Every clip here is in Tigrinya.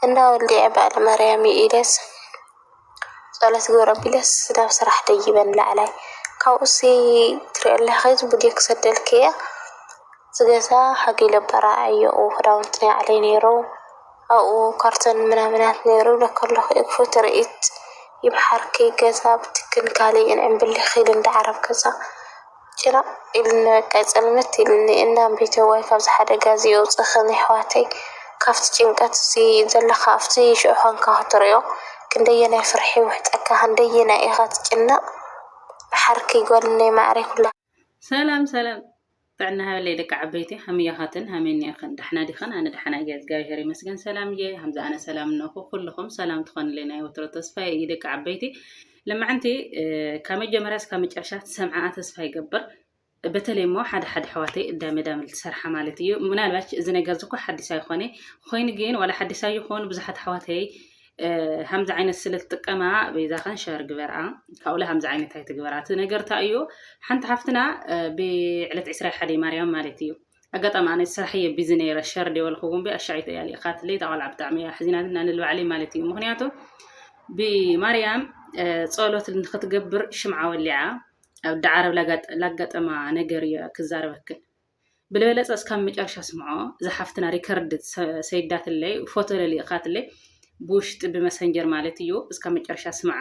እንዳ ወልድየ በዓል ማርያም ይኢለስ ጸሎት ግብረ ኣቢለስ ናብ ስራሕ ደይበን ላዕላይ ካብኡሲ ትሪኦ ኣለኺ ቪድዮ ክሰደልኪ እየ እዚ ገዛ ሓጊለ በራዓዮ ኣብኡ ክዳውንቲ ናይ ባዕለይ ነይሩ ኣብኡ ካርቶን ምናምናት ነይሩ ብለካ ኣለኹ እየ ክፉት ትርኢት ይምሓርኪ ገዛ ብትክን ካልእን ዕምብሊኺ ልንዲ ዓረብ ገዛ ጭርቕ ኢሉኒ በቃ ፅልምት ኢሉኒ እንዳ ኣንበይተዋይ ካብዚ ሓደጋ እዚ የውፅእኽን የሕዋተይ ካብቲ ጭንቀት እዚ ዘለኻ ኣብቲ ሽዑ ኾንካ ክትሪኦ ክንደየናይ ፍርሒ ይውሕጠካ ክንደየናይ ኢኻ ትጭነቕ ብሓርኪ ጓልነይ ማዕረይ ኩላ ሰላም ሰላም ጥዕና ሃበለይ ደቂ ዓበይቲ ሃመይ ኢኻትን ሃመይ እኒኣኽን ዳሕና ዲኽን ኣነ ዳሕና እየ እግዚኣብሔር ይመስገን ሰላም እየ ሃምዚ ኣነ ሰላም እነኹ ኩልኹም ሰላም ትኾንለይ ናይ ወትሮ ተስፋ እዩ ደቂ ዓበይቲ ልምዕንቲ ካብ መጀመርያ እስካብ መጨረሻ ትሰምዓኣ ተስፋ ይገብር በተለይ እሞ ሓደ ሓደ ኣሕዋተይ እዳመዳም ዝሰርሓ ማለት እዩ ምናልባች እዚ ነገር ዝኮ ሓዲስ ኣይኮነ ኮይኑ ግን ዋላ ሓዲስ ኣይኮኑ ብዙሓት ኣሕዋተይ ከምዚ ዓይነት ስለ ትጥቀማ በይዛኸን ሸር ግበርኣ ካብኡለ ከምዚ ዓይነት ኣይትግበራ እቲ ነገር እንታይ እዩ ሓንቲ ሓፍትና ብዕለት ዕስራ ሓደ ማርያም ማለት እዩ ኣጋጣሚ ኣነ ስራሕ እየ ቢዚ ነይረ ሸር ዲየ በልክዎም ብ ኣሻዒት እያ ልኢኻትለይ እታ ቆልዓ ብጣዕሚ እያ ኣሕዚናትና ንልባዕለይ ማለት እዩ ምክንያቱ ብማርያም ጸሎት ንክትገብር ሽምዓ ወሊዓ ኣብ ዳዓረብ ላጋጠማ ነገር እየ ክዛረበክን ብልበለፀ እስካብ መጨረሻ ስምዖ ዝሓፍትና ሪከርድ ሰይዳትለይ ፎቶ ለሊእኻትለይ ብውሽጢ ብመሰንጀር ማለት እዩ እስካብ መጨረሻ ስምዓ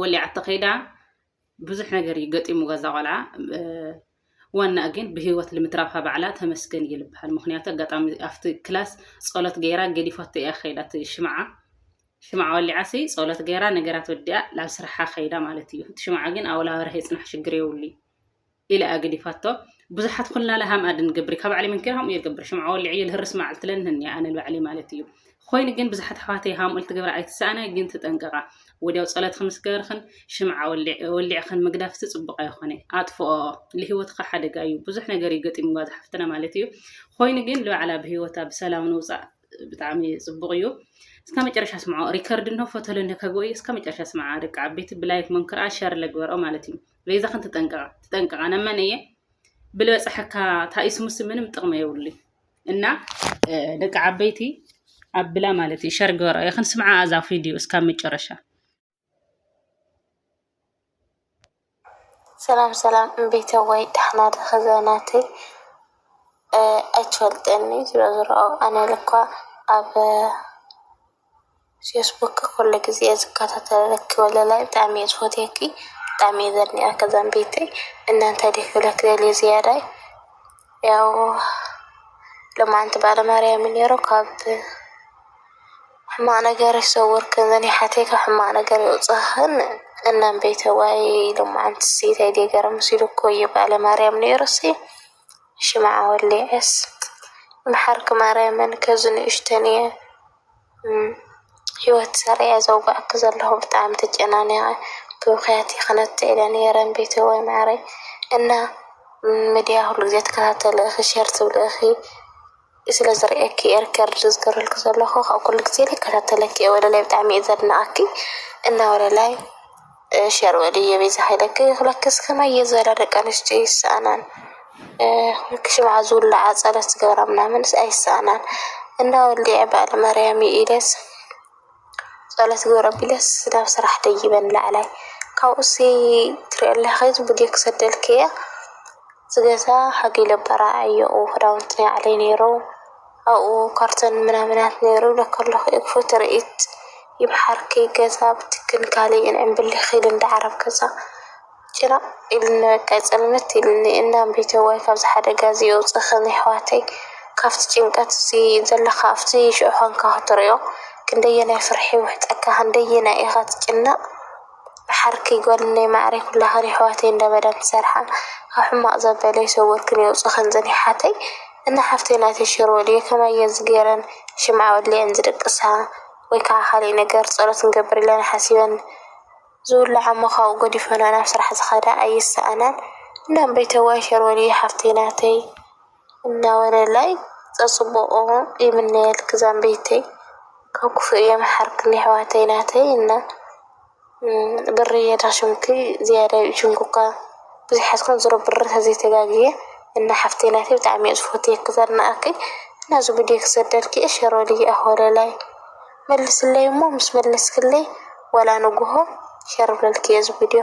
ወሊዓቶ ከይዳ ብዙሕ ነገር እዩ ገጢሙዋ እዛ ቆልዓ ዋናእ ግን ብህይወት ልምትራፋ ባዕላ ተመስገን እዩ ልበሃል ምክንያቱ ኣጋጣሚ ኣብቲ ክላስ ጸሎት ገይራ ገዲፋቶ እያ ከይዳ እቲ ሽምዓ ሽምዓ ወሊዓ ሲ ጸሎት ገይራ ነገራት ወዲኣ ናብ ስራሓ ከይዳ ማለት እዩ እቲ ሽምዓ ግን ኣብላ ወርሒ ይጽናሕ ሽግር የብሉ እዩ ኢለ ኣገዲፋቶ ብዙሓት ኩልና ለሃም ኣድን ገብሪ ካብ ባዕሊ መንኪር ሃምኡ የገብር ሽምዓ ወሊዕ እየ ልህርስ መዓልቲ ለንህን እየ ኣነ ባዕሊ ማለት እዩ ኮይኑ ግን ብዙሓት ኣሕዋተይ ሃምኡ ልትገብራ ኣይትሰኣና ግን ትጠንቀቃ ወዲያው ጸሎትክን ምስ ገበርክን ሽምዓ ወሊዕክን ምግዳፍ እቲ ጽቡቅ ኣይኾነ ኣጥፍኦ ልህይወትካ ሓደጋ እዩ ብዙሕ ነገር እዩ ገጢምዋ ዝሓፍትና ማለት እዩ ኮይኑ ግን ልባዕላ ብህይወታ ብሰላም ንውጻእ ብጣዕሚ ጽቡቅ እዩ እስከ መጨረሻ ስምዖ ሪከርድ እንሆ ፎቶ ለንከጎ እዩ እስከ መጨረሻ ስምዓ ደቂ ዓበይቲ ብላይክ መንክርኣ ሸር ለግበርኦ ማለት እዩ በይዛ ክንት ጠንቀቃ ትጠንቀቃ ነመን እየ ብለ ፀሐካ ታኢስሙስ ምንም ጥቅመ የብሉ እና ደቂ ዓበይቲ ኣብላ ማለት እዩ ሸር ገበራ ይክን ስምዓ ኣዛ ቪድዮ እስካብ መጨረሻ ሰላም ሰላም እምቤተ ወይ ዳሕና ድኸ ዘናተይ ኣይትፈልጠኒ ዝሮ ዝሮ ኣነ ልኳ ኣብ ፌስቡክ ኩሉ ግዜ እየ ዝከታተለኪ ወለላይ ብጣዕሚ እየ ዝፈትወኪ ብጣዕሚ እየ ዘድንቀኪ ዛምበይተይ እና እንታይ ድየ ክብለኪ ደልየ ዝያዳይ ያው ሎማዓንቲ በዓለ ማርያም እዩ ነይሩ ካብ ሕማቅ ነገር ይሰውርኪ እዘን የሓተይ ካብ ሕማቅ ነገር የውፅእክን እና እምበይተዋይ ሎማዓንቲ እንታይ ድየ ገረምስ ኢሉኪ ወዮ በዓለ ማርያም ነይሩ እሲ ሽምዓ ወሊዐስ ይምሓርኪ ማርያምን ከዚ ንእሽተን እየ። ሂወት ሰሪዐ ዘውጋኣኪ ዘለኩ ብጣዕሚ ተጨናኒቀ ብብክያት ክነቲ ኢለ ነይረ ቤተወይ ማዓረይ እና ምድያ ኩሉ ግዜ ትካታተሊ ኢኪ ሸር ትብሊ ኢኪ ስለ ዝሪኤኪ እየ ሪከርድ ዝገብረልኪ ዘለኩ ኩሉ ግዜ ይካታተለኪ እየ ወለላይ ብጣዕሚ እየ ዘድንቀኪ እና ወለላይ። ሸር በሊ የቤዛ ሃይለ ክክለክስ ከመይ እየ ዝበላ ደቂ ኣንስትዮ ይሰኣናን ሽምዓ ዝውላዓ ፀሎት ዝገብራ ምናምንስ ኣይሰኣናን እንዳ ወልዲዐ በዓል ማርያም እዩ ኢለስ ፀሎት ግብረ ቢለስ ናብ ስራሕ ደይበን ላዕላይ ካብኡሲ ትሪኦ ኣለኺ ብድዮ ክሰደልክ እያ ዝገዛ ሓጊለ በራዕ እዮ ክዳውንቲ ናይ ባዕለይ ነይሩ ኣብኡ ካርቶን ምናምናት ነይሩ እብለኪ ኣለኹ እፎ ትርኢት ይምሓርኪ ገዛ ብትክን ካሊእን ዕንብሊኽ ኢሉ እንዳ ዓረብ ገዛ ጭነቕ ኢሉኒ በቃ ፅልምት ኢሉኒ እንዳ ኣምቤተዋይ ካብዚ ሓደጋ እዚ የውፅእኽን የሕዋተይ ካብቲ ጭንቀት እዚ ዘለኻ ኣብቲ ሽዑ ኾንካ ክትሪኦ ክንደየናይ ፍርሒ ይውሕጠካ ክንደየናይ ኢኻ ትጭነቕ ባሓርኪ ጋልነይ ማዓረይ ኩላክን የሕዋተይ እንዳ መዳም ትሰርሓ ካብ ሕማቅ ዘበለ ይሰውርክን የውፅእክን እዘን የሓተይ እና ሓፍተይ ናተይ ሸር በልዮ ከማይ እየን ዝገይረን ሽምዓ ወሊዐን ዝድቅሳ ወይ ካዓ ካሊእ ነገር ፀሎት ክንገብር ኢለን ሓሲበን ዝውላዓ እሞ ካብኡ ገዲፈንኦ ናብ ስራሕ ዝከዳ ኣይሰኣናን እና እምበይተዋይ ሸር በልዮ ሓፍተይ ናተይ። እንዳወለላይ ፀፅቡቁ ይምነየልኪ ዛምበይተይ ካብ ኩፉእ የምሓርክን የሕዋተይ ናተይ እና ብርየ ዳሽምኪ ዝያዳይ እጅንኩካ ብዙሓት ኮን ዝሮ ብር ተዘይተጋግየ እና ሓፍተይ ናተይ ብጣዕሚ እየ ዝፎትየኪ ዘድንኣኪ እና እዚ ቡድዮ ክሰደልኪ እየ ሸሮልይ ኣሕ ወለላይ መልስለይ እሞ ምስ መለስክለይ ዋላ ንጉሆ ሸር ክብለልኪ እየ እዚ ቡድዮ።